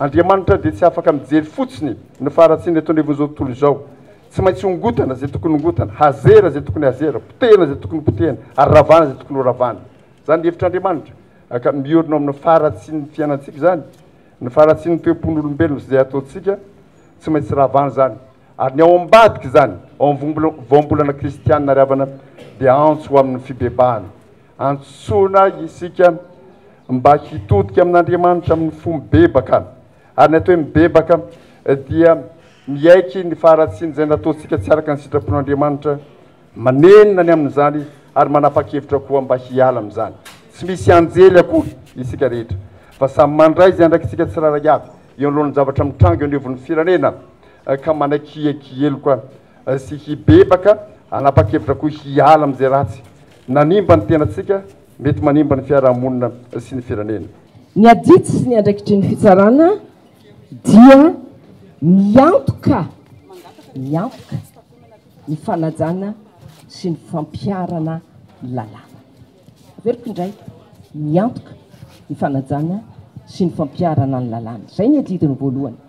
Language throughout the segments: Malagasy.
Andriamanitra dia tsy afaka mijery fotsiny ny faharatsiana eto anivon'izao tontolo izao. Tsy maintsy hongotana izay tokony hongotana, hazera izay tokony hazera, potehina izay tokony hopotehina, ary ravana izay tokony horavana. Izany ny hevitr'Andriamanitra, ka miorina ao amin'ny faharatsian'ny fiainantsika izany. Ny faharatsian'ny toe-pon'olombelona sy izay ataontsika, tsy maintsy ravana izany. Ary ny ao ambadika izany, ao amin'ny vaombolana kristianina ravana, dia antso ho amin'ny fibebahana. Antsoina isika mba hitodika amin'Andriamanitra amin'ny fo mibebaka, ary ny atao hoe mibebaka dia miaiky ny faharatsiana izay nataontsika tsy araka ny sitrapon'Andriamanitra, manenina ny amin'izany ary manapa-kevitra koa mba hiala amin'izany. Tsy misy anjely akory isika rehetra, fa samy mandray izay andraikitsika tsirairay avy eo anoloan'ny zavatra mitranga eo anivon'ny firenena, ka manaiky hiheloka sy hibebaka, hanapa-kevitra koa hiala amin'izay ratsy nanimba ny tenantsika, mety manimba ny fiarahamonina sy ny firenena. Ny adidy sy ny andraikitry ny fitsarana dia miantoka miantoka ny fanajana sy ny fampiharana ny lalàna. Averiko indray, miantoka ny fanajana sy ny fampiharana ny lalàna. Izay ny adidiny voalohany.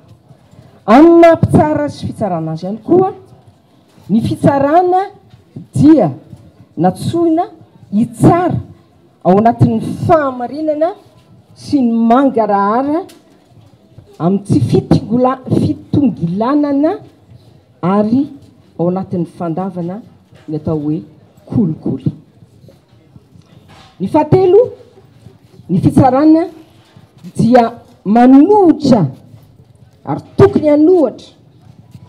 Amin'ny maha mpitsara sy fitsarana azy ihany koa, Ny fitsarana dia natsoina hitsara ao anatin'ny fahamarinana sy ny mangarahara amin'ny tsy fitongilanana ary ao anatin'ny fandavana ny atao hoe kolikoly. Ny fahatelo, ny fitsarana dia manohitra ary tokony hanohatra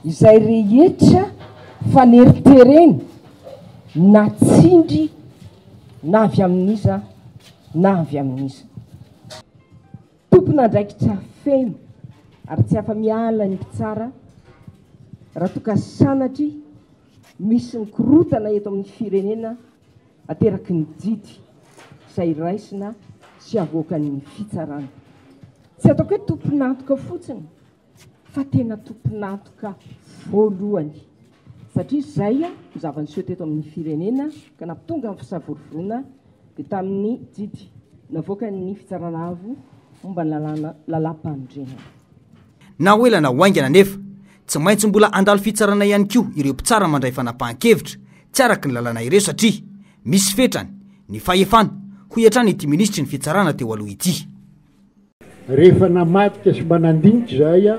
izay rehetra faneritereny na tsindry na avy amin'iza na avy amin'iza. Tompon'andraikitra feno ary tsy afa-miala ny mpitsara raha toa ka sanatria Misy ny korontana eto amin'ny firenena ateraky ny jidy izay raisina sy avoakan'ny fitsarana. Tsy ataoko hoe tompon'antoka fotsiny fa tena tompon'antoka voalohany satria izay ny zava-niseho teto amin'ny firenena ka nampitonga ny fisavorovoroana dia tamin'ny jidy navoakan'ny Fitsarana Avo momba ny lalàna, lalàmpanorenana. Na ho ela na ho haingana anefa, tsy maintsy mbola handalo fitsarana ihany koa ireo mpitsara mandray fanapahan-kevitra tsy araka ny lalàna ireo satria misy fetrany ny fahefana, hoy hatrany ity minisitry ny Fitsarana teo aloha ity. Rehefa namadika sy mba nandinika izahay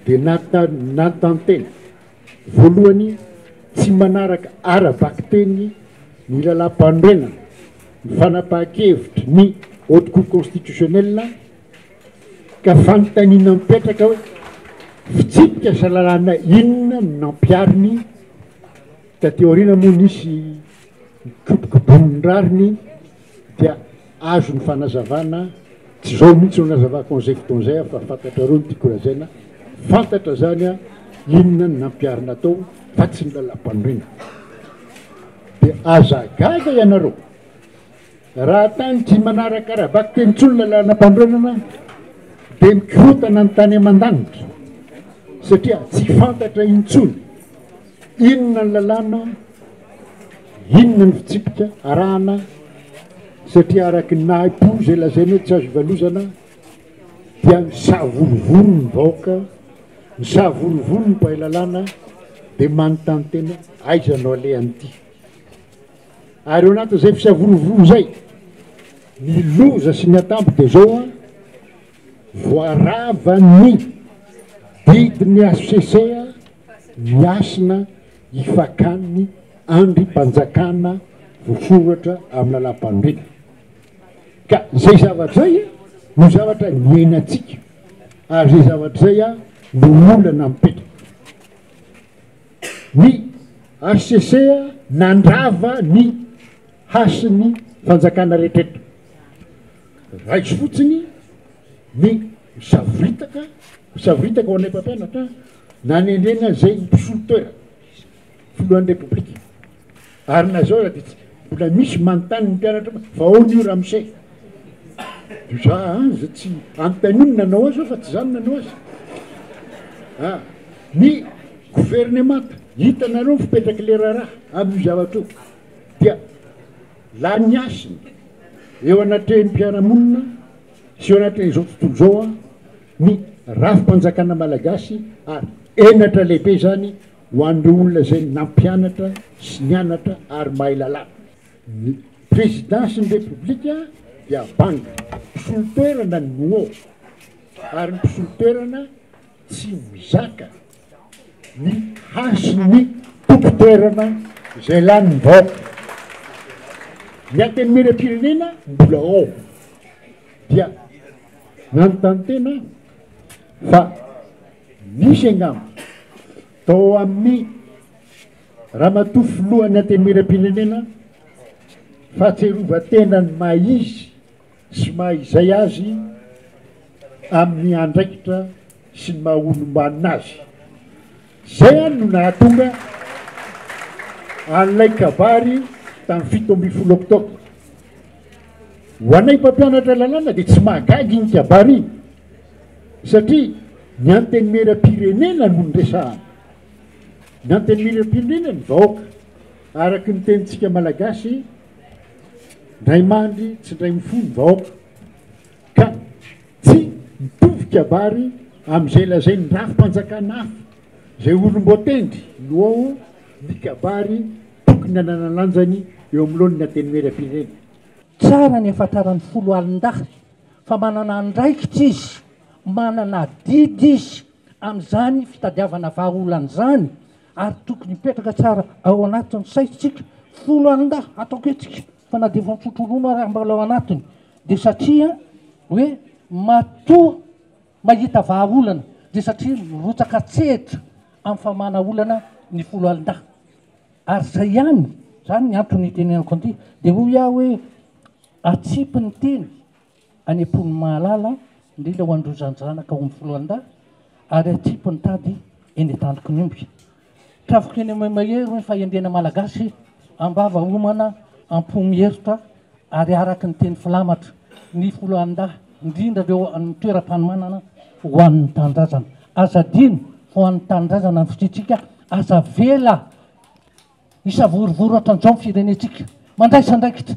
dia nantantena voalohany tsy manaraka ara-bakiteny ny lalàmpanorenana ny fanapahan-kevitry ny Haute Cour Constitutionnelle, Ka fanontaniana mipetraka hoe fitsipika sy lalàna inona no nampihariny? Taty aoriana moa nisy nikobokobonin'ny rariny dia azo ny fanazavana, tsy izao mihitsy no nazavako an'izay fotoana izay aho fa fantatrareo no tiako lazaina, fantatra izany aho inona no nampiharina tao fa tsy ny lalampanorenana. Dia aza gaga ianareo Raha tany tsy manaraka ara-baky teny intsony ny lalanam-panorenana dia mikorontana ny tany aman-danitra satria tsy fantatra intsony inona ny lalàna, inona ny fitsipika arahana satria araka ny nahi-po izay lazaina hoe tsy azo ivalozana dia misavorovoro ny vahoaka, misavorovoro ny mpahay lalàna dia manontany tena aiza no alehan'ity. Ary ao anatin'izay fisavorovoro izay, ny loza sy ny atambo dia izao an, voaravan'ny didin'ny HCC ny hasina hifakan'ny andrimpanjakana voasoratra amin'ny lalàmpanorenana. Ka izay zavatra izay no zavatra niainantsika, ary izay zavatra izay no olana mipetraka. Ny hcc nandrava ny hasin'ny fanjakana rehetra eto. Raiso fotsiny ny savoritaka, savoritaka ho anay mpampianatra nanendrena izay mpisolo toerana, filohan'ny Repoblika. Ary na zao aza dia tsy mbola misy manontany ny mpianatra hoe fa aona io ramose? Dia za aza tsy anontaniana ny nanao azy aho fa tsy za no nanao azy a! Ny governemanta, hitanareo ny fipetrak'ilay raharaha amin'io zavatra io dia lany hasina eo anatrehan'ny mpiara-monina sy eo anatrehan'izao tontolo izao ny rafi-panjakana malagasy ary henatra lehibe izany Ho an'ireo olona izay nampianatra sy nianatra ary mahay lalàna, ny Prezidansin'ny Repoblika dia banga mpisolo toerana ny Muo ary ny mpisolo toerana tsy mizaka ny hasin'ny tompon-toerana izay lanin'ny vahoaka. Ny Antenimierampirenena mbola ao dia nanontany tena aho fa. Nisy angamba tao amin'ny Ramatoa Filohan'ny Antenimieram-pirenena fahatsiarovan-tena ny maha izy sy maha izay azy amin'ny andraikitra sy ny maha olom-banona azy. Izay ihany no nahatonga an'ilay kabary tamin'ny fito ambin'ny folo oktobra. Ho anay mpampianatra lalàna dia tsy mahagaga iny kabary iny. Satria ny antenimieram-pirenena no niresahana. Ny antenimieram-pirenena ny vahoaka. Araka ny tenintsika malagasy, ndray mandry tsy ndray mifoha ny vahoaka. Ka tsy mitovy kabary amin'izay lazain'ny rafi-panjakana hafa, izay olom-boatendry no ao ny kabary tokony hanana lanjany eo anoloan'ny antenimieram-pirenena. Tsara ny hafantaran'ny foloalindahy fa manana andraikitra izy, manana adidy izy amin'izany fitadiavana vahaolana izany ary tokony hipetraka tsara ao anatin'ny saintsika folo andahy ataoko hetsika fa na dia efa mifotra ronono ary mbola ao anatiny dia satria hoe matoa mahita vahaolana dia satria mirotsaka tsehatra amin'ny famahana olana ny folo andahy ary izay ihany izany ny antony itenenako an'ity dia hoy aho hoe Atsipy ny teny any am-pon'ny mahalala, indrindra ho an'ireo zandrizanaka ao amin'ny foloalindahy, ary atsipy ny tady eny an-tandroky ny omby. Trafiko eny amin'ny mahery ny fahendrena malagasy, am-bava homana, am-po miheritrà, ary araky ny teny filamatra, ny foloalindahy, indrindra ireo any amin'ny toeram-panomanana, ho an'ny tanindrazana. Aza adino fa ho an'ny tanindrazana ny fisiantsika, aza avela hisavorovoro hatran'izao ny firenentsika. Mandraisa andraikitra.